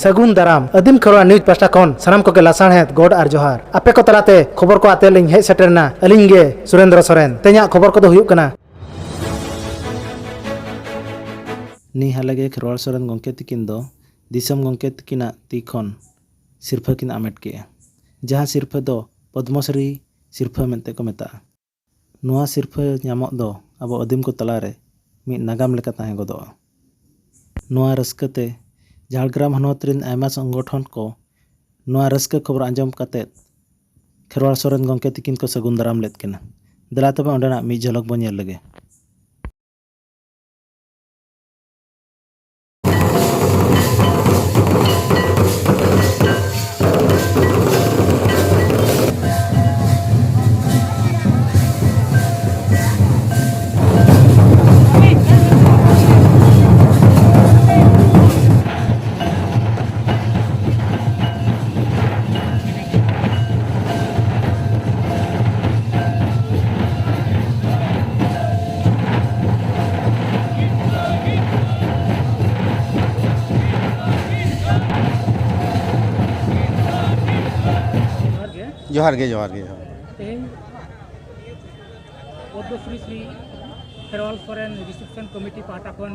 ᱥᱟᱹᱜᱩᱱ ᱫᱟᱨᱟᱢ ᱟᱹᱫᱤᱢ ᱠᱷᱚᱨᱣᱟ ᱱᱤᱭᱩᱡᱽ ᱯᱟᱥᱴᱟ ᱠᱷᱚᱱ ᱥᱟᱱᱟᱢ ᱠᱚᱜᱮ ᱞᱟᱥᱟᱬᱦᱮᱫ ᱜᱚᱰ ᱟᱨ ᱡᱚᱦᱟᱨ ᱟᱯᱮ ᱠᱚ ᱛᱟᱞᱟᱛᱮ ᱠᱷᱚᱵᱚᱨ ᱠᱚ ᱟᱛᱮ ᱞᱤᱧ ᱦᱮᱡ ᱥᱮᱴᱮᱨᱱᱟ ᱟᱹᱞᱤᱧ ᱜᱮ ᱥᱩᱨᱮᱱᱫᱨᱚ ᱥᱚᱨᱮᱱ ᱛᱮᱦᱮᱧᱟᱜ ᱠᱷᱚᱵᱚᱨ ᱠᱚᱫᱚ ᱦᱩᱭᱩᱜ ᱠᱟᱱᱟ ᱱᱤ ᱦᱟᱞᱮ ᱜᱮ ᱠᱷᱮᱨᱣᱟᱲ ᱥᱚᱨᱮᱱ ᱜᱚᱢᱠᱮ ᱛᱤᱠᱤᱱ ᱫᱚ ᱫᱤᱥᱚᱢ ᱜᱚᱢᱠᱮ ᱛᱤᱠᱤᱱᱟᱜ ᱛᱤ ᱠᱷᱚᱱ ᱥᱤᱨᱯᱷᱟᱹ ᱠᱤᱱ ᱟᱢᱮᱴ ᱠᱮᱫᱼᱟ ᱡᱟᱦᱟᱸ ᱥᱤᱨᱯᱷᱟᱹ ᱫᱚ ᱯᱚᱫᱽᱢᱚᱥᱨᱤ ᱥᱤᱨᱯᱷᱟᱹ ᱢᱮᱱᱛᱮ ᱠᱚ ᱢᱮᱛᱟᱜᱼᱟ᱾ ᱱᱚᱶᱟ ᱥᱤᱨᱯᱷᱟᱹ ᱧᱟᱢᱚᱜ ᱫᱚ ᱟᱵᱚ ᱟᱹᱫᱤᱢ ᱠᱚ ᱛᱟᱞᱟ ᱨᱮ ᱢᱤᱫ ᱱᱟᱜᱟᱢ ᱞᱮᱠᱟ ᱛᱟᱦᱮᱸ ᱜᱚᱫᱚᱜᱼᱟ᱾ ᱱᱚᱶᱟ ᱨᱟᱹᱥᱠᱟᱹ ᱛᱮ ᱡᱷᱟᱲᱜᱨᱟᱢ ᱦᱚᱱᱚᱛ ᱨᱤᱱ ᱟᱭᱢᱟ ᱥᱚᱝᱜᱚᱴᱷᱚᱱ ᱠᱚ ᱱᱚᱶᱟ ᱨᱟᱹᱥᱠᱟᱹ ᱠᱷᱚᱵᱚᱨ ᱟᱸᱡᱚᱢ ᱠᱟᱛᱮ ᱠᱷᱮᱨᱣᱟᱲ ᱥᱚᱨᱮᱱ ᱜᱚᱢᱠᱮ ᱛᱤᱠᱤᱱ ᱠᱚ ᱥᱟᱹᱜᱩᱱ ᱫᱟᱨᱟᱢ ᱞᱮᱫ ᱠᱤᱱᱟ᱾ ᱫᱮᱞᱟ ᱛᱚᱵᱮ ᱚᱸᱰᱮᱱᱟᱜ ᱢᱤᱫ ᱡᱷᱚᱞᱚᱠ ᱵᱚ ᱧᱮᱞ ᱞᱮᱜᱮ᱾ ᱡᱚᱦᱟᱨ ᱜᱮ ᱡᱚᱦᱟᱨ ᱜᱮ ᱡᱚᱦᱟᱨ ᱛᱮᱦᱮᱧ ᱯᱚᱫᱽᱢᱚᱥᱨᱤ ᱥᱨᱤ ᱠᱷᱮᱨᱣᱟᱞ ᱥᱚᱨᱮᱱ ᱨᱤᱥᱮᱯᱥᱚᱱ ᱠᱚᱢᱤᱴᱤ ᱯᱟᱦᱴᱟ ᱠᱷᱚᱱ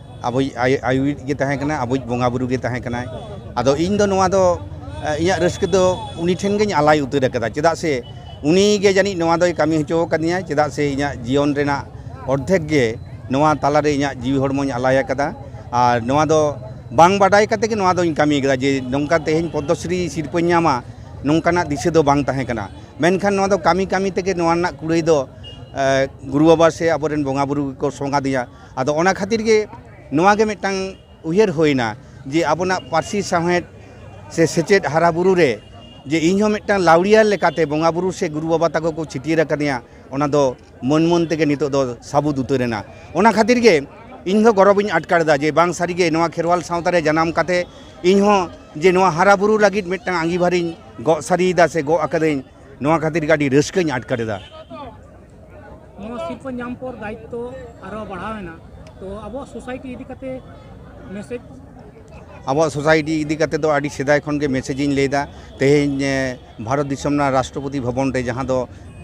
ᱟᱵᱚᱭᱤᱡ ᱟᱭᱳᱭᱤᱡ ᱜᱮ ᱛᱟᱦᱮᱸ ᱠᱟᱱᱟᱭ ᱟᱵᱚᱭᱤᱡ ᱵᱚᱸᱜᱟ ᱵᱩᱨᱩ ᱜᱮ ᱛᱟᱦᱮᱸ ᱠᱟᱱᱟᱭ ᱟᱫᱚ ᱤᱧ ᱫᱚ ᱱᱚᱣᱟ ᱫᱚ ᱤᱧᱟᱹᱜ ᱨᱟᱹᱥᱠᱟᱹ ᱫᱚ ᱩᱱᱤ ᱴᱷᱮᱱ ᱜᱤᱧ ᱟᱞᱟᱭ ᱩᱛᱟᱹᱨ ᱟᱠᱟᱫᱟ ᱪᱮᱫᱟᱜ ᱥᱮ ᱩᱱᱤ ᱜᱮ ᱡᱟᱹᱱᱤᱡ ᱱᱚᱣᱟ ᱫᱚᱭ ᱠᱟᱹᱢᱤ ᱦᱚᱪᱚ ᱟᱠᱟᱫᱤᱧᱟ ᱪᱮᱫᱟᱜ ᱥᱮ ᱤᱧᱟᱹᱜ ᱡᱤᱭᱚᱱ ᱨᱮᱱᱟᱜ ᱚᱨᱫᱷᱮᱠ ᱜᱮ ᱱᱚᱣᱟ ᱛᱟᱞᱟ ᱨᱮ ᱤᱧᱟᱹᱜ ᱡᱤᱣᱤ ᱦᱚᱲᱢᱚᱧ ᱟᱞᱟᱭ ᱟᱠᱟᱫᱟ ᱟᱨ ᱱᱚᱣᱟ ᱫᱚ ᱵᱟᱝ ᱵᱟᱰᱟᱭ ᱠᱟᱛᱮ ᱜᱮ ᱱᱚᱣᱟ ᱫᱚᱧ ᱠᱟᱹᱢᱤ ᱟᱠᱟᱫᱟ ᱡᱮ ᱱᱚᱝᱠᱟ ᱛᱮᱦᱮᱧ ᱯᱚᱫᱽᱫᱚᱥᱨᱤ ᱥᱤᱨᱯᱟᱹᱧ ᱧᱟᱢᱟ ᱱᱚᱝᱠᱟᱱᱟᱜ ᱫᱤᱥᱟᱹ ᱫᱚ ᱵᱟᱝ ᱛᱟᱦᱮᱸ ᱠᱟᱱᱟ ᱢᱮᱱᱠᱷᱟᱱ ᱱᱚᱣᱟ ᱫᱚ ᱠᱟᱹᱢᱤ ᱠᱟᱹᱢᱤ ᱛᱮᱜᱮ ᱱᱚᱣᱟ ᱨᱮᱱᱟᱜ ᱠᱩᱲᱟᱹᱭ ᱫᱚ ᱜᱩᱨᱩ ᱵᱟᱵᱟ ᱥᱮ ᱟᱵᱚᱨᱮᱱ ᱵᱚᱸᱜᱟ ᱵᱩᱨᱩ ᱜᱮᱠᱚ ᱥᱚᱝ ᱟᱫᱤᱧᱟ ᱟᱫᱚ ᱚᱱᱟ ᱠᱷᱟᱹᱛᱤᱨ ᱜᱮ ᱱᱚᱣᱟ ᱜᱮ ᱢᱤᱫᱴᱟᱝ ᱩᱭᱦᱟᱹᱨ ᱦᱩᱭᱮᱱᱟ ᱡᱮ ᱟᱵᱚᱱᱟᱜ ᱯᱟᱹᱨᱥᱤ ᱥᱟᱶᱦᱮᱫ ᱥᱮ ᱥᱮᱪᱮᱫ ᱦᱟᱨᱟ ᱵᱩᱨᱩ ᱨᱮ ᱡᱮ ᱤᱧ ᱦᱚᱸ ᱢᱤᱫᱴᱟᱝ ᱞᱟᱣᱲᱤᱭᱟᱹ ᱞᱮᱠᱟᱛᱮ ᱵᱚᱸᱜᱟ ᱵᱩᱨᱩ ᱥᱮ ᱜᱩᱨᱩ ᱵᱟᱵᱟ ᱛᱟᱠᱚ ᱠᱚ ᱪᱷᱟᱹᱴᱭᱟᱹᱨ ᱟᱠᱟᱫᱤᱧᱟ ᱚᱱᱟ ᱫᱚ ᱢᱟᱹᱱ ᱢᱟᱹᱱ ᱛᱮᱜᱮ ᱱᱤᱛᱚᱜ ᱫᱚ ᱥᱟᱹᱵᱩᱫ ᱩᱛᱟᱹᱨ ᱮᱱᱟ ᱚᱱᱟ ᱠᱷᱟᱹᱛᱤᱨ ᱜᱮ ᱤᱧ ᱫᱚ ᱜᱚᱨᱚᱵᱽ ᱤᱧ ᱟᱴᱠᱟᱨ ᱮᱫᱟ ᱡᱮ ᱵᱟᱝ ᱥᱟᱹᱨᱤ ᱜᱮ ᱱᱚᱣᱟ ᱠᱷᱮᱨᱣᱟᱞ ᱥᱟᱶᱛᱟ ᱨᱮ ᱡᱟᱱᱟᱢ ᱠᱟᱛᱮ ᱤᱧ ᱦᱚᱸ ᱡᱮ ᱱᱚᱣᱟ ᱦᱟᱨᱟ ᱵᱩᱨᱩ ᱞᱟᱹᱜᱤᱫ ᱢᱤᱫᱴᱟᱝ ᱟᱺᱜᱤᱵᱷᱟᱨᱤᱧ ᱜᱚᱜ ᱥᱟᱹᱨᱤᱭᱮᱫᱟ ᱥᱮ ᱜᱚᱜ ᱟᱠᱟᱫᱟᱹᱧ ᱱᱚᱣᱟ ᱠᱷᱟᱹᱛᱤᱨ ᱜᱮ ᱟᱹᱰᱤ ᱨᱟᱹᱥᱠᱟᱹᱧ ᱟᱴᱠᱟᱨ ᱮᱫᱟ ᱱᱚᱣᱟ ᱥᱤᱨᱯᱟᱹ ᱧᱟᱢ ᱯᱚᱨ ᱫᱟᱭᱤᱛᱛᱚ ᱟᱨᱚ ᱵᱟᱲᱦᱟᱣᱮᱱᱟ ᱛᱚ ᱟᱵᱚᱣᱟᱜ ᱥᱳᱥᱟᱭᱴᱤ ᱤᱫᱤ ᱠᱟᱛᱮ ᱢᱮᱥᱮᱡᱽ ᱟᱵᱚᱣᱟᱜ ᱥᱳᱥᱟᱭᱴᱤ ᱤᱫᱤ ᱠᱟᱛᱮ ᱫᱚ ᱟᱹᱰᱤ ᱥᱮᱫᱟᱭ ᱠᱷᱚᱱ ᱜᱮ ᱢᱮᱥᱮᱡᱽ ᱤᱧ ᱞᱟᱹᱭᱫᱟ ᱛᱮᱦᱮᱧ ᱵᱷᱟᱨᱚᱛ ᱫᱤᱥᱚᱢ ᱨᱮᱱᱟᱜ ᱨᱟᱥᱴᱨᱚᱯᱚᱛᱤ ᱵᱷᱚᱵᱚᱱ ᱨᱮ ᱡᱟᱦᱟᱸ ᱫᱚ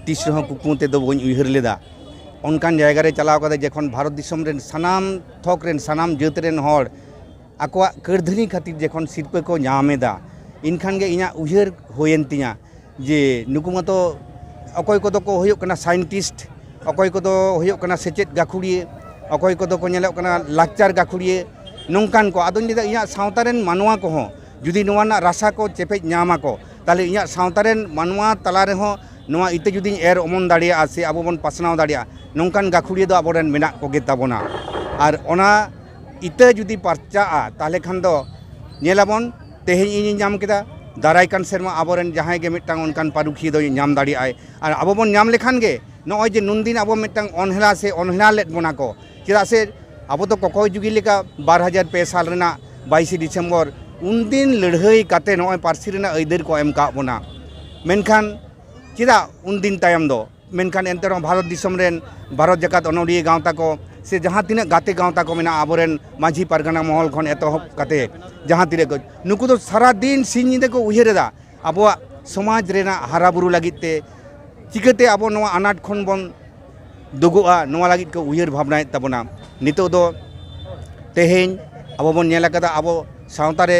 ᱛᱤᱥ ᱨᱮᱦᱚᱸ ᱠᱩᱠᱢᱩ ᱛᱮᱫᱚ ᱵᱟᱹᱧ ᱩᱭᱦᱟᱹᱨ ᱞᱮᱫᱟ ᱚᱱᱠᱟᱱ ᱡᱟᱭᱜᱟ ᱨᱮ ᱪᱟᱞᱟᱣ ᱠᱟᱛᱮ ᱡᱚᱠᱷᱚᱱ ᱵᱷᱟᱨᱚᱛ ᱫᱤᱥᱚᱢ ᱨᱮᱱ ᱥᱟᱱᱟᱢ ᱛᱷᱚᱠ ᱨᱮᱱ ᱥᱟᱱᱟᱢ ᱡᱟᱹᱛ ᱨᱮᱱ ᱦᱚᱲ ᱟᱠᱚᱣᱟᱜ ᱠᱟᱹᱨᱫᱷᱟᱹᱱᱤ ᱠᱷᱟᱹᱛᱤᱨ ᱡᱚᱠᱷᱚᱱ ᱥᱤᱨᱯᱟᱹ ᱠᱚ ᱧᱟᱢ ᱮᱫᱟ ᱮᱱᱠᱷᱟᱱ ᱜᱮ ᱤᱧᱟᱹᱜ ᱩᱭᱦᱟᱹᱨ ᱦᱩᱭᱮᱱ ᱛᱤᱧᱟᱹ ᱡᱮ ᱱᱩᱠᱩ ᱢᱟᱛᱚ ᱚᱠᱚᱭ ᱠᱚᱫᱚ ᱠᱚ ᱦᱩᱭᱩᱜ ᱠᱟᱱᱟ ᱥᱟᱭᱮᱱᱴᱤᱥᱴ ᱚᱠᱚᱭ ᱠᱚᱫᱚ ᱦᱩᱭᱩᱜ ᱠᱟᱱᱟ ᱥᱮᱪᱮᱫ ᱜᱟᱹᱠᱷᱩᱲᱤᱭᱟᱹ ᱚᱠᱚᱭ ᱠᱚᱫᱚ ᱠᱚ ᱧᱮᱞᱚᱜ ᱠᱟᱱᱟ ᱞᱟᱠᱪᱟᱨ ᱜᱟᱹᱠᱷᱩᱲᱤᱭᱟᱹ ᱱᱚᱝᱠᱟᱱ ᱠᱚ ᱟᱫᱚᱧ ᱞᱟᱹᱭᱫᱟ ᱤᱧᱟᱹᱜ ᱥᱟᱶᱛᱟ ᱨᱮᱱ ᱢᱟᱱᱣᱟ ᱠᱚᱦᱚᱸ ᱡᱩᱫᱤ ᱱᱚᱣᱟ ᱨᱮᱱᱟᱜ ᱨᱟᱥᱟ ᱠᱚ ᱪᱮᱯᱮᱡ ᱧᱟᱢ ᱟᱠᱚ ᱛᱟᱦᱚᱞᱮ ᱤᱧᱟᱹᱜ ᱥᱟᱶᱛᱟ ᱨᱮᱱ ᱢᱟᱱᱣᱟ ᱛᱟᱞᱟ ᱨᱮᱦᱚᱸ ᱱᱚᱣᱟ ᱤᱛᱟᱹ ᱡᱩᱫᱤᱧ ᱮᱨ ᱚᱢᱚᱱ ᱫᱟᱲᱮᱭᱟᱜᱼᱟ ᱥᱮ ᱟᱵᱚ ᱵᱚᱱ ᱯᱟᱥᱱᱟᱣ ᱫᱟᱲᱮᱭᱟᱜᱼᱟ ᱱᱚᱝᱠᱟᱱ ᱜᱟᱹᱠᱷᱩᱲᱤᱭᱟᱹ ᱫᱚ ᱟᱵᱚ ᱨᱮᱱ ᱢᱮᱱᱟᱜ ᱠᱚᱜᱮ ᱛᱟᱵᱚᱱᱟ ᱟᱨ ᱚᱱᱟ ᱤᱛᱟᱹ ᱡᱩᱫᱤ ᱯᱟᱨᱪᱟᱜᱼᱟ ᱛᱟᱦᱚᱞᱮ ᱠᱷᱟᱱ ᱫᱚ ᱧᱮᱞᱟᱵᱚᱱ ᱛᱮᱦᱮᱧ ᱤᱧᱤᱧ ᱧᱟᱢ ᱠᱮᱫᱟ ᱫᱟᱨᱟᱭ ᱠᱟᱱ ᱥᱮᱨᱢᱟ ᱟᱵᱚᱨᱮᱱ ᱡᱟᱦᱟᱸᱭ ᱜᱮ ᱢᱤᱫᱴᱟᱝ ᱚᱱᱠᱟᱱ ᱯᱟᱹᱨᱩᱠᱷᱤᱭᱟᱹ ᱫᱚᱭ ᱧᱟᱢ ᱫᱟᱲᱮᱭᱟᱜᱼᱟᱭ ᱟᱨ ᱟᱵᱚ ᱵᱚᱱ ᱧᱟᱢ ᱞᱮᱠᱷᱟᱱ ᱜᱮ ᱱᱚᱜᱼᱚᱭ ᱡᱮ ᱱᱩᱱᱫᱤᱱ ᱟᱵᱚ ᱢᱤᱫᱴᱟᱝ ᱚᱱᱦᱮᱞᱟ ᱥᱮ ᱚᱱᱦᱮᱞᱟ ᱞᱮᱫ ᱵᱚᱱᱟ ᱠᱚ ᱪᱮᱫᱟᱜ ᱥᱮ ᱟᱵᱚ ᱫᱚ ᱠᱚᱠᱚᱭ ᱡᱩᱜᱤ ᱞᱮᱠᱟ ᱵᱟᱨ ᱦᱟᱡᱟᱨ ᱯᱮ ᱥᱟᱞ ᱨᱮᱱᱟᱜ ᱵᱟᱭᱤᱥᱮ ᱰᱤᱥᱮᱢᱵᱚᱨ ᱩᱱᱫᱤᱱ ᱞᱟᱹᱲᱦᱟᱹᱭ ᱠᱟᱛᱮ ᱱᱚᱜᱼᱚᱭ ᱯᱟᱹᱨᱥᱤ ᱨᱮᱱᱟᱜ ᱟᱹᱭᱫᱟᱹᱨ ᱠᱚ ᱮᱢ ᱠᱟᱜ ᱵᱚᱱᱟ ᱢᱮᱱᱠᱷᱟᱱ ᱪᱮᱫᱟᱜ ᱩᱱᱫᱤᱱ ᱛᱟᱭᱚᱢ ᱫᱚ ᱢᱮᱱᱠᱷᱟᱱ ᱮᱱᱛᱮ ᱨᱮᱦᱚᱸ ᱵᱷᱟᱨᱚᱛ ᱫᱤᱥᱚᱢ ᱨᱮᱱ ᱵᱷᱟᱨᱚᱛ ᱡᱟᱠᱟᱛ ᱚᱱᱚᱞᱤᱭᱟᱹ ᱜᱟᱶᱛᱟ ᱠᱚ ᱥᱮ ᱡᱟᱦᱟᱸ ᱛᱤᱱᱟᱹᱜ ᱜᱟᱛᱮ ᱜᱟᱶᱛᱟ ᱠᱚ ᱢᱮᱱᱟᱜᱼᱟ ᱟᱵᱚᱨᱮᱱ ᱢᱟᱹᱡᱷᱤ ᱯᱟᱨᱜᱟᱱᱟ ᱢᱚᱦᱚᱞ ᱠᱷᱚᱱ ᱮᱛᱚᱦᱚᱵ ᱠᱟᱛᱮ ᱡᱟᱦᱟᱸ ᱛᱤᱱᱟᱹᱜ ᱠᱚ ᱱᱩᱠᱩ ᱫᱚ ᱥᱟᱨᱟ ᱫᱤᱱ ᱥᱤᱧ ᱧᱤᱫᱟᱹ ᱠᱚ ᱩᱭᱦᱟᱹᱨ ᱮᱫᱟ ᱟᱵᱚᱣᱟᱜ ᱥᱚᱢᱟᱡᱽ ᱨᱮᱱᱟᱜ ᱦᱟᱨᱟ ᱵᱩᱨᱩ ᱞᱟᱹᱜᱤᱫ ᱛᱮ ᱪᱤᱠᱟᱹᱛᱮ ᱟᱵᱚ ᱱᱚᱣᱟ ᱟᱱᱟᱴ ᱠᱷᱚᱱ ᱵᱚᱱ ᱫᱩᱜᱩᱜᱼᱟ ᱱᱚᱣᱟ ᱞᱟᱹᱜᱤᱫ ᱠᱚ ᱩᱭᱦᱟᱹᱨ ᱵᱷᱟᱵᱽᱱᱟᱭᱮᱫ ᱛᱟᱵᱚᱱᱟ ᱱᱤᱛᱚᱜ ᱫᱚ ᱛᱮᱦᱮᱧ ᱟᱵᱚ ᱵᱚᱱ ᱧᱮᱞ ᱟᱠᱟᱫᱟ ᱟᱵᱚ ᱥᱟᱶᱛᱟ ᱨᱮ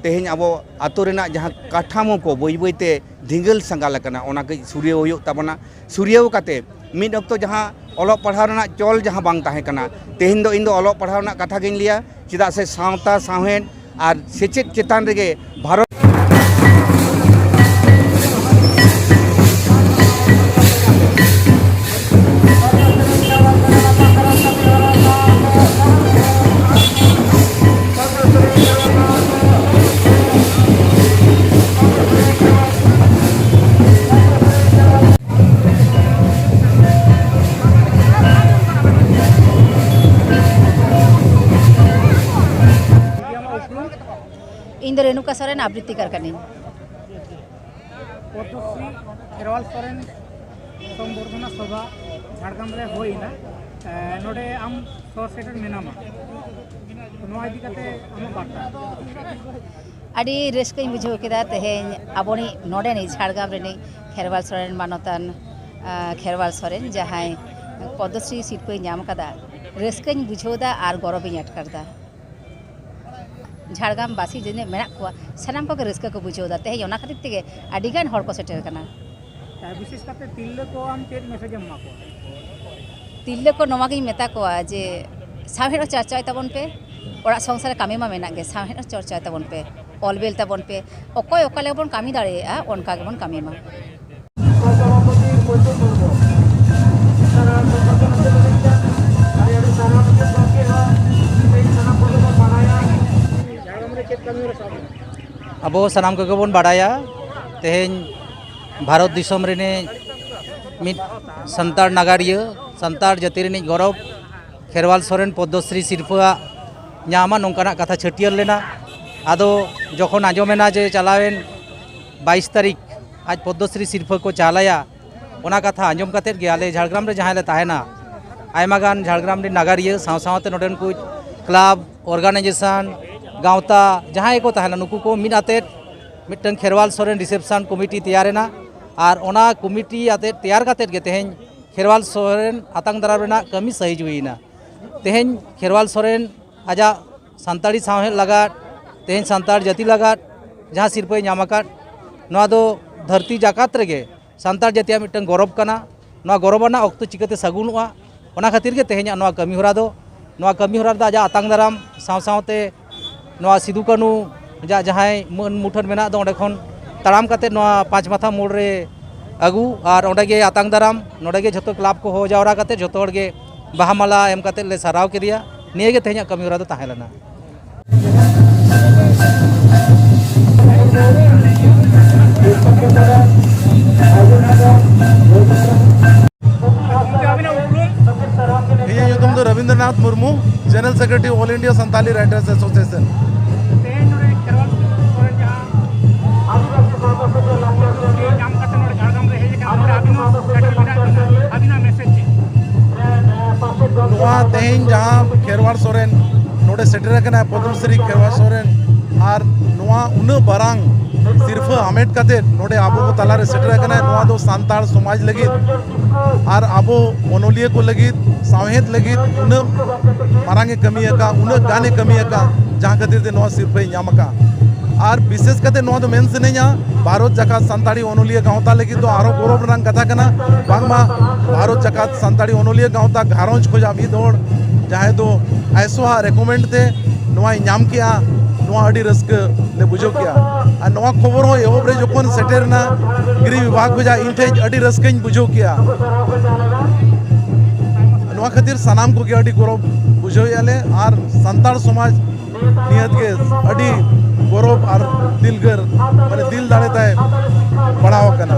ᱛᱮᱦᱮᱧ ᱟᱵᱚ ᱟᱛᱳ ᱨᱮᱱᱟᱜ ᱡᱟᱦᱟᱸ ᱠᱟᱴᱷᱟᱢᱳ ᱠᱚ ᱵᱟᱹᱭ ᱵᱟᱹᱭ ᱛᱮ ᱫᱷᱤᱸᱜᱟᱹᱞ ᱥᱟᱸᱜᱟᱞ ᱟᱠᱟᱱᱟ ᱚᱱᱟ ᱠᱟᱹᱡ ᱥᱩᱨᱭᱟᱹᱣ ᱦᱩᱭᱩᱜ ᱛᱟᱵᱚᱱᱟ ᱥᱩᱨᱭᱟᱹᱣ ᱠᱟᱛᱮ ᱢᱤᱫ ᱚᱠᱛᱚ ᱡᱟᱦᱟᱸ ᱚᱞᱚᱜ ᱯᱟᱲᱦᱟᱣ ᱨᱮᱱᱟᱜ ᱪᱚᱞ ᱡᱟᱦᱟᱸ ᱵᱟᱝ ᱛᱟᱦᱮᱸ ᱠᱟᱱᱟ ᱛᱮᱦᱮᱧ ᱫᱚ ᱤᱧ ᱫᱚ ᱚᱞᱚᱜ ᱯᱟᱲᱦᱟᱣ ᱨᱮᱱᱟᱜ ᱠᱟᱛᱷᱟ ᱜᱤᱧ ᱞᱟᱹᱭᱟ ᱪᱮᱫᱟᱜ ᱥᱮ ᱥᱟᱶᱛᱟ ᱥᱟᱶᱦᱮᱫ ᱟᱨ ᱥᱮᱪᱮᱫ ᱪᱮᱛᱟᱱ ᱨᱮᱜᱮ ᱵᱷᱟᱨᱚᱛ ᱤᱧ ᱫᱚ ᱨᱮᱱᱩᱠᱟ ᱥᱚᱨᱮᱱ ᱟᱵᱨᱤᱛᱤ ᱠᱟᱨ ᱠᱟᱹᱱᱟᱹᱧ ᱯᱚᱫᱽᱢᱚᱥᱨᱤ ᱠᱷᱮᱨᱣᱟᱞ ᱥᱚᱨᱮᱱ ᱥᱚᱢᱵᱚᱨᱫᱷᱚᱱᱟ ᱥᱚᱵᱷᱟ ᱡᱷᱟᱲᱜᱨᱟᱢ ᱨᱮ ᱦᱩᱭᱱᱟ ᱱᱚᱰᱮ ᱟᱢ ᱥᱚᱨ ᱥᱮᱴᱮᱨ ᱢᱮᱱᱟᱢᱟ ᱱᱚᱣᱟ ᱤᱫᱤ ᱠᱟᱛᱮ ᱟᱢᱟᱜ ᱵᱟᱨᱛᱟ ᱟᱹᱰᱤ ᱨᱟᱹᱥᱠᱟᱹᱧ ᱵᱩᱡᱷᱟᱹᱣ ᱠᱮᱫᱟ ᱛᱮᱦᱮᱧ ᱟᱵᱚᱱᱤᱡ ᱱᱚᱰᱮᱱᱤᱡ ᱡᱷᱟᱲᱜᱨᱟᱢ ᱨᱤᱱᱤᱡ ᱠᱷᱮᱨᱣᱟᱞ ᱥᱚᱨᱮᱱ ᱢᱟᱱᱚᱛᱟᱱ ᱠᱷᱮᱨᱣᱟᱞ ᱥᱚᱨᱮᱱ ᱡᱟᱦᱟᱸᱭ ᱯᱚᱫᱽᱢᱚᱥᱨᱤ ᱥᱤᱨᱯᱟᱹᱭ ᱧᱟᱢ ᱠᱟᱫᱟ ᱨᱟᱹᱥᱠᱟᱹᱧ ᱵᱩᱡᱷᱟᱹᱣ ᱫᱟ ᱟᱨ ᱜᱚᱨᱚᱵᱤᱧ ᱟᱴᱠᱟᱨ ᱫᱟ ᱡᱷᱟᱲᱜᱨᱟᱢ ᱵᱟᱥᱤ ᱡᱤᱱᱟᱹᱜ ᱢᱮᱱᱟᱜ ᱠᱚᱣᱟ ᱥᱟᱱᱟᱢ ᱠᱚᱜᱮ ᱨᱟᱹᱥᱠᱟᱹ ᱠᱚ ᱵᱩᱡᱷᱟᱹᱣ ᱫᱟ ᱛᱮᱦᱮᱧ ᱚᱱᱟ ᱠᱷᱟᱹᱛᱤᱨ ᱛᱮᱜᱮ ᱟᱹᱰᱤ ᱜᱟᱱ ᱦᱚᱲ ᱠᱚ ᱥᱮᱴᱮᱨ ᱠᱟᱱᱟ ᱵᱤᱥᱮᱥ ᱠᱟᱛᱮ ᱛᱤᱨᱞᱟᱹ ᱠᱚ ᱟᱢ ᱪᱮᱫ ᱢᱮᱥᱮᱡ ᱮᱢ ᱮᱢᱟ ᱠᱚᱣᱟ ᱛᱤᱨᱞᱟᱹ ᱠᱚ ᱱᱚᱣᱟ ᱜᱤᱧ ᱢᱮᱛᱟ ᱠᱚᱣᱟ ᱡᱮ ᱥᱟᱶᱦᱮᱫ ᱦᱚᱸ ᱪᱟᱨᱪᱟᱭ ᱛᱟᱵᱚᱱ ᱯᱮ ᱚᱲᱟᱜ ᱥᱚᱝᱥᱟᱨ ᱠᱟᱹᱢᱤ ᱢᱟ ᱢᱮᱱᱟᱜ ᱜᱮ ᱥᱟᱶᱦᱮᱫ ᱦᱚᱸ ᱪᱚᱨᱪᱟᱭ ᱛᱟᱵᱚᱱ ᱯᱮ ᱚᱞ ᱵᱮᱞ ᱛᱟᱵᱚᱱ ᱯᱮ ᱚᱠᱚᱭ ᱚᱠᱟ ᱞᱮᱠᱟ ᱵᱚᱱ ᱠᱟᱹᱢᱤ ᱫᱟᱲᱮᱭᱟᱜᱼᱟ ᱚᱱᱠᱟ ᱜᱮᱵᱚᱱ ᱠᱟᱹᱢᱤ ᱢᱟ ᱟᱵᱚ ᱥᱟᱱᱟᱢ ᱠᱚᱜᱮ ᱵᱚᱱ ᱵᱟᱲᱟᱭᱟ ᱛᱮᱦᱮᱧ ᱵᱷᱟᱨᱚᱛ ᱫᱤᱥᱚᱢ ᱨᱤᱱᱤᱡ ᱢᱤᱫ ᱥᱟᱱᱛᱟᱲ ᱱᱟᱜᱟᱨᱤᱭᱟᱹ ᱥᱟᱱᱛᱟᱲ ᱡᱟᱹᱛᱤ ᱨᱤᱱᱤᱡ ᱜᱚᱨᱚᱵᱽ ᱠᱷᱮᱨᱣᱟᱞ ᱥᱚᱨᱮᱱ ᱯᱚᱫᱽᱢᱚᱥᱨᱤ ᱥᱤᱨᱯᱷᱟᱹᱣᱟᱜ ᱧᱟᱢᱟ ᱱᱚᱝᱠᱟᱱᱟᱜ ᱠᱟᱛᱷᱟ ᱪᱷᱟᱹᱴᱭᱟᱹᱨ ᱞᱮᱱᱟ ᱟᱫᱚ ᱡᱚᱠᱷᱚᱱ ᱟᱸᱡᱚᱢᱮᱱᱟ ᱡᱮ ᱪᱟᱞᱟᱣᱮᱱ ᱵᱟᱭᱤᱥ ᱛᱟᱹᱨᱤᱠᱷ ᱟᱡ ᱯᱚᱫᱽᱫᱚᱥᱨᱤ ᱥᱤᱨᱯᱷᱟᱹ ᱠᱚ ᱪᱟᱞ ᱟᱭᱟ ᱚᱱᱟ ᱠᱟᱛᱷᱟ ᱟᱸᱡᱚᱢ ᱠᱟᱛᱮ ᱜᱮ ᱟᱞᱮ ᱡᱷᱟᱲᱜᱨᱟᱢ ᱨᱮ ᱡᱟᱦᱟᱸ ᱞᱮ ᱛᱟᱦᱮᱱᱟ ᱟᱭᱢᱟ ᱜᱟᱱ ᱡᱷᱟᱲᱜᱨᱟᱢ ᱨᱮᱱ ᱱᱟᱜᱟᱨᱤᱭᱟᱹ ᱥᱟᱶ ᱥᱟᱶᱛᱮ ᱱᱚᱰᱮᱱ ᱠᱚ ᱠᱞᱟᱵᱽ ᱚᱨᱜᱟᱱᱟᱭᱡᱮᱥᱚᱱ ᱜᱟᱶᱛᱟ ᱡᱟᱦᱟᱸᱭ ᱠᱚ ᱛᱟᱦᱮᱱᱟ ᱱᱩᱠᱩ ᱠᱚ ᱢᱤᱫ ᱟᱛᱮ ᱢᱤᱫᱴᱟᱝ ᱠᱷᱮᱨᱣᱟᱞ ᱥᱚᱨᱮᱱ ᱨᱤᱥᱮᱯᱥᱚᱱ ᱠᱚᱢᱤᱴᱤ ᱛᱮᱭᱟᱨᱮᱱᱟ ᱟᱨ ᱚᱱᱟ ᱠᱚᱢᱤᱴᱤ ᱟᱛᱮ ᱛᱮᱭᱟᱨ ᱠᱟᱛᱮ ᱜᱮ ᱛᱮᱦᱮᱧ ᱠᱷᱮᱨᱣᱟᱞ ᱥᱚᱨᱮᱱ ᱟᱛᱟᱝ ᱫᱟᱨᱟᱢ ᱨᱮᱱᱟᱜ ᱠᱟᱹᱢᱤ ᱥᱟᱹᱦᱤᱡ ᱦᱩᱭᱮᱱᱟ ᱛᱮᱦᱮᱧ ᱠᱷᱮᱨᱣᱟᱞ ᱥᱚᱨᱮᱱ ᱟᱡᱟᱜ ᱥᱟᱱᱛᱟᱲᱤ ᱥᱟᱶᱦᱮᱫ ᱞᱟᱜᱟᱫ ᱛᱮᱦᱮᱧ ᱥᱟᱱᱛᱟᱲ ᱡᱟᱹᱛᱤ ᱞᱟᱜᱟᱫ ᱡᱟᱦᱟᱸ ᱥᱤᱨᱯᱟᱹᱭ ᱧᱟᱢ ᱟᱠᱟᱫ ᱱᱚᱣᱟ ᱫᱚ ᱫᱷᱟᱹᱨᱛᱤ ᱡᱟᱠᱟᱛ ᱨᱮᱜᱮ ᱥᱟᱱᱛᱟᱲ ᱡᱟᱹᱛᱤᱭᱟᱜ ᱢᱤᱫᱴᱟᱝ ᱜᱚᱨᱚᱵᱽ ᱠᱟᱱᱟ ᱱᱚᱣᱟ ᱜᱚᱨᱚᱵᱽ ᱟᱱᱟᱜ ᱚᱠᱛᱚ ᱪᱤᱠᱟᱹᱛᱮ ᱥᱟᱹᱜᱩᱱᱚᱜᱼᱟ ᱚᱱᱟ ᱠᱷᱟᱹᱛᱤᱨ ᱜᱮ ᱛᱮᱦᱮᱧᱟᱜ ᱱᱚᱣᱟ ᱠᱟᱹᱢᱤ ᱦᱚᱨᱟ ᱫᱚ ᱱᱚᱣᱟ ᱠᱟᱹᱢᱤ ᱦᱚᱨᱟ ᱨᱮᱫᱚ ᱟᱡᱟᱜ ᱟᱛᱟᱝ ᱫᱟᱨᱟᱢ ᱥᱟᱶ ᱥᱟᱶᱛᱮ ᱱᱚᱣᱟ ᱥᱤᱫᱩ ᱠᱟᱹᱱᱩ ᱟᱡᱟᱜ ᱡᱟᱦᱟᱸᱭ ᱢᱟᱹᱱ ᱢᱩᱴᱷᱟᱹᱱ ᱢᱮᱱᱟᱜ ᱫᱚ ᱚᱸᱰᱮ ᱠᱷᱚᱱ ᱛᱟᱲᱟᱢ ᱠᱟᱛᱮ ᱱᱚᱣᱟ ᱯᱟᱸᱪ ᱢᱟᱛᱷᱟ ᱢᱳᱲ ᱨᱮ ᱟᱹᱜᱩ ᱟᱨ ᱚᱸᱰᱮ ᱜᱮ ᱟᱛᱟᱝ ᱫᱟᱨᱟᱢ ᱱᱚᱸᱰᱮ ᱜᱮ ᱡᱷᱚᱛᱚ ᱠᱞᱟᱵᱽ ᱠᱚ ᱦᱚᱦᱚ ᱡᱟᱣᱨᱟ ᱠᱟᱛᱮ ᱡᱷᱚᱛᱚ ᱦᱚᱲ ᱜᱮ ᱵᱟᱦᱟ ᱢᱟᱞᱟ ᱮᱢ ᱠᱟᱛᱮ ᱞᱮ ᱥᱟᱨᱟᱣ ᱠᱮᱫᱮᱭᱟ ᱱᱤᱭᱟᱹ ᱜᱮ ᱛᱮᱦᱮᱧᱟᱜ ᱠᱟᱹᱢᱤ ᱦᱚᱨᱟ ᱫᱚ ᱛᱟᱦᱮᱸ ᱞᱮᱱᱟ ᱤᱧᱟᱹᱜ ᱧᱩᱛᱩᱢ ᱫᱚ Rabindranath Murmu general secretary all India Santali writers association ᱛᱮᱦᱮᱧ ᱡᱟᱦᱟᱸ ᱠᱷᱮᱨᱣᱟᱲ ᱥᱚᱨᱮᱱ ᱱᱚᱰᱮ ᱥᱮᱴᱮᱨ ᱟᱠᱟᱱᱟ ᱯᱚᱫᱢᱥᱨᱤ ᱠᱷᱮᱨᱣᱟᱲ ᱥᱚᱨᱮᱱ ᱟᱨ ᱱᱚᱣᱟ ᱩᱱᱟᱹᱜ ᱵᱟᱨᱟᱝ ᱥᱤᱨᱯᱷᱟᱹ ᱦᱟᱢᱮᱴ ᱠᱟᱛᱮ ᱱᱚᱰᱮ ᱟᱵᱚ ᱠᱚ ᱛᱟᱞᱟᱨᱮ ᱥᱮᱴᱮᱨ ᱟᱠᱟᱱᱟ ᱱᱚᱣᱟ ᱫᱚ ᱥᱟᱱᱛᱟᱲ ᱥᱚᱢᱟᱡᱽ ᱞᱟᱹᱜᱤᱫ ᱟᱨ ᱟᱵᱚ ᱚᱱᱚᱞᱤᱭᱟᱹ ᱠᱚ ᱞᱟᱹᱜᱤᱫ ᱥᱟᱶᱦᱮᱫ ᱞᱟᱹᱜᱤᱫ ᱩᱱᱟᱹᱜ ᱢᱟᱨᱟᱝ ᱮ ᱠᱟᱹᱢᱤ ᱟᱠᱟᱫ ᱩᱱᱟᱹᱜ ᱜᱟᱱ ᱮ ᱠᱟᱹᱢᱤ ᱟᱠᱟᱫ ᱡᱟᱦᱟᱸ ᱠᱷᱟᱹᱛᱤᱨ ᱛᱮ ᱱᱚᱣᱟ ᱥᱤᱨᱯᱟᱹᱭ ᱧᱟᱢ ᱟᱠᱟᱫ ᱟᱨ ᱵᱤᱥᱮᱥ ᱠᱟᱛᱮ ᱱᱚᱣᱟ ᱫᱚ ᱢᱮᱱ ᱥᱟᱱᱟᱧᱟ ᱵᱷᱟᱨᱚᱛ ᱡᱟᱠᱟᱛ ᱥᱟᱱᱛᱟᱲᱤ ᱚᱱᱚᱞᱤᱭᱟᱹ ᱜᱟᱶᱛᱟ ᱞᱟᱹᱜᱤᱫ ᱫᱚ ᱟᱨᱚ ᱜᱚᱨᱚᱵ ᱨᱮᱱᱟᱜ ᱠᱟᱛᱷᱟ ᱠᱟᱱᱟ ᱵᱟᱝᱢᱟ ᱵᱷᱟᱨᱚᱛ ᱡᱟᱠᱟᱛ ᱥᱟᱱᱛᱟᱲᱤ ᱚᱱᱚᱞᱤᱭᱟᱹ ᱜᱟᱶᱛᱟ ᱜᱷᱟᱨᱚᱸᱡᱽ ᱠᱷᱚᱱᱟᱜ ᱢᱤᱫ ᱦᱚᱲ ᱡᱟᱦᱟᱸᱭ ᱫᱚ ᱟᱭᱥᱚᱣᱟᱜ ᱨᱮᱠᱚᱢᱮᱱᱰ ᱛᱮ ᱱᱚᱣᱟᱭ ᱧᱟᱢ ᱠᱮᱜᱼᱟ ᱱᱚᱣᱟ ᱟᱹᱰᱤ ᱨᱟᱹᱥᱠᱟᱹ ᱞᱮ ᱵᱩᱡᱷᱟᱹᱣ ᱠᱮᱜᱼᱟ ᱟᱨ ᱱᱚᱣᱟ ᱠᱷᱚᱵᱚᱨ ᱦᱚᱸ ᱮᱦᱚᱵ ᱨᱮ ᱡᱚᱠᱷᱚᱱ ᱥᱮᱴᱮᱨᱮᱱᱟ ᱜᱤᱨᱤ ᱵᱤᱵᱷᱟᱜᱽ ᱠᱷᱚᱱᱟᱜ ᱴᱷᱮᱡ ᱟᱹᱰᱤ ᱨᱟᱹᱥᱠᱟᱹᱧ ᱵᱩᱡᱷᱟᱹᱣ ᱠᱮᱜᱼᱟ ᱱᱚᱣᱟ ᱠᱷᱟᱹᱛᱤᱨ ᱥᱟᱱᱟᱢ ᱠᱚᱜᱮ ᱟᱹᱰᱤ ᱜᱚᱨᱚᱵᱽ ᱵᱩᱡᱷᱟᱹᱣᱮᱜᱼᱟ ᱞᱮ ᱟᱨ ᱥᱟᱱᱛᱟᱲ ᱥᱚᱢᱟᱡᱽ ᱱᱤᱦᱟᱹᱛ ᱜᱮ ᱟᱹᱰᱤ ᱜᱚᱨᱚᱵᱽ ᱟᱨ ᱫᱤᱞᱜᱟᱹᱨ ᱢᱟᱱᱮ ᱫᱤᱞ ᱫᱟᱲᱮ ᱛᱟᱭ ᱯᱟᱲᱟᱣ ᱟᱠᱟᱱᱟ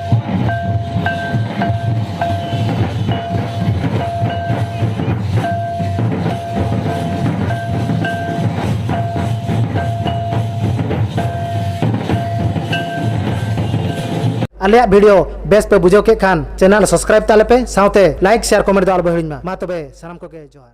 ᱟᱞᱮᱭᱟᱜ ᱵᱷᱤᱰᱤᱭᱳ ᱵᱮᱥ ᱯᱮ ᱵᱩᱡᱷᱟᱹᱣ ᱠᱮᱫ ᱠᱷᱟᱱ ᱪᱮᱱᱮᱞ ᱥᱟᱵᱥᱠᱨᱟᱭᱤᱵ ᱛᱟᱞᱮ ᱯᱮ ᱥᱟᱶᱛᱮ ᱞᱟᱭᱤᱠ ᱥᱮᱭᱟᱨ ᱠᱚᱢᱮᱱᱴ ᱫᱚ ᱟᱞᱚ ᱯᱮ ᱦᱤᱲᱤᱧ ᱢᱟ ᱢᱟ ᱛᱚᱵᱮ ᱥᱟᱱᱟᱢ ᱠᱚᱜᱮ ᱡᱚᱦᱟᱨ